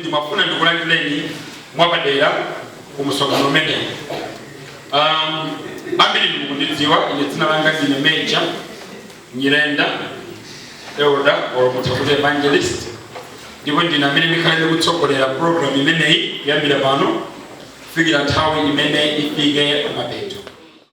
Ndimafuna ndikulandireni mwapadera ku msonkhano umenewu. Um, ambiri inu mukundidziwa ine, dzina langa ndine Meja Nyirenda, elder or mutha kuti evangelist, ndipo ndine amene ndikhale ndikutsogolera program imeneyi kuyambira pano kufikira nthawi imene ifike mapeto.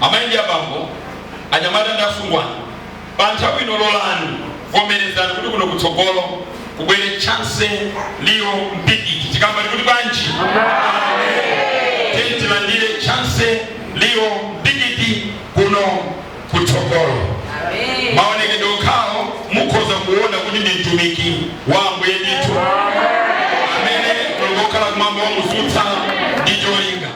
Amai ndi abambo, anyamata ndi asungwana, pa nthawi ino lolani, vomerezani kuti kuno kutsogolo kubwere Chancy Leo Mpikiti. Tikamba tikuti bwanji? Tiyeni tilandire Chancy Leo Mpikiti kuno kutsogolo. Maonekedwe okhawo mukhoza kuona kuti ndi mtumiki wa Ambuye ndithu amene Mulungu wokhala kumwamba wamudzutsa ndi cholinga.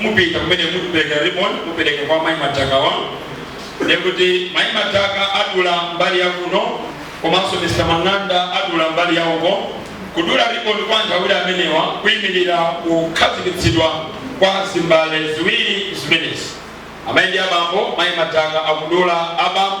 mupita kumene mukupeleka ribbon mupeleka kwa mai mataka-wa ndekuti mai mataka adula mbali ya kuno komanso mr mang'anda adula mbali ya uko kudula ribbon kwa anthu awiri amenewa kuyimirira kukhazikitsidwa kwa zimbale ziwiri zimenezi amayi ndi abambo mai mataka akudula abambo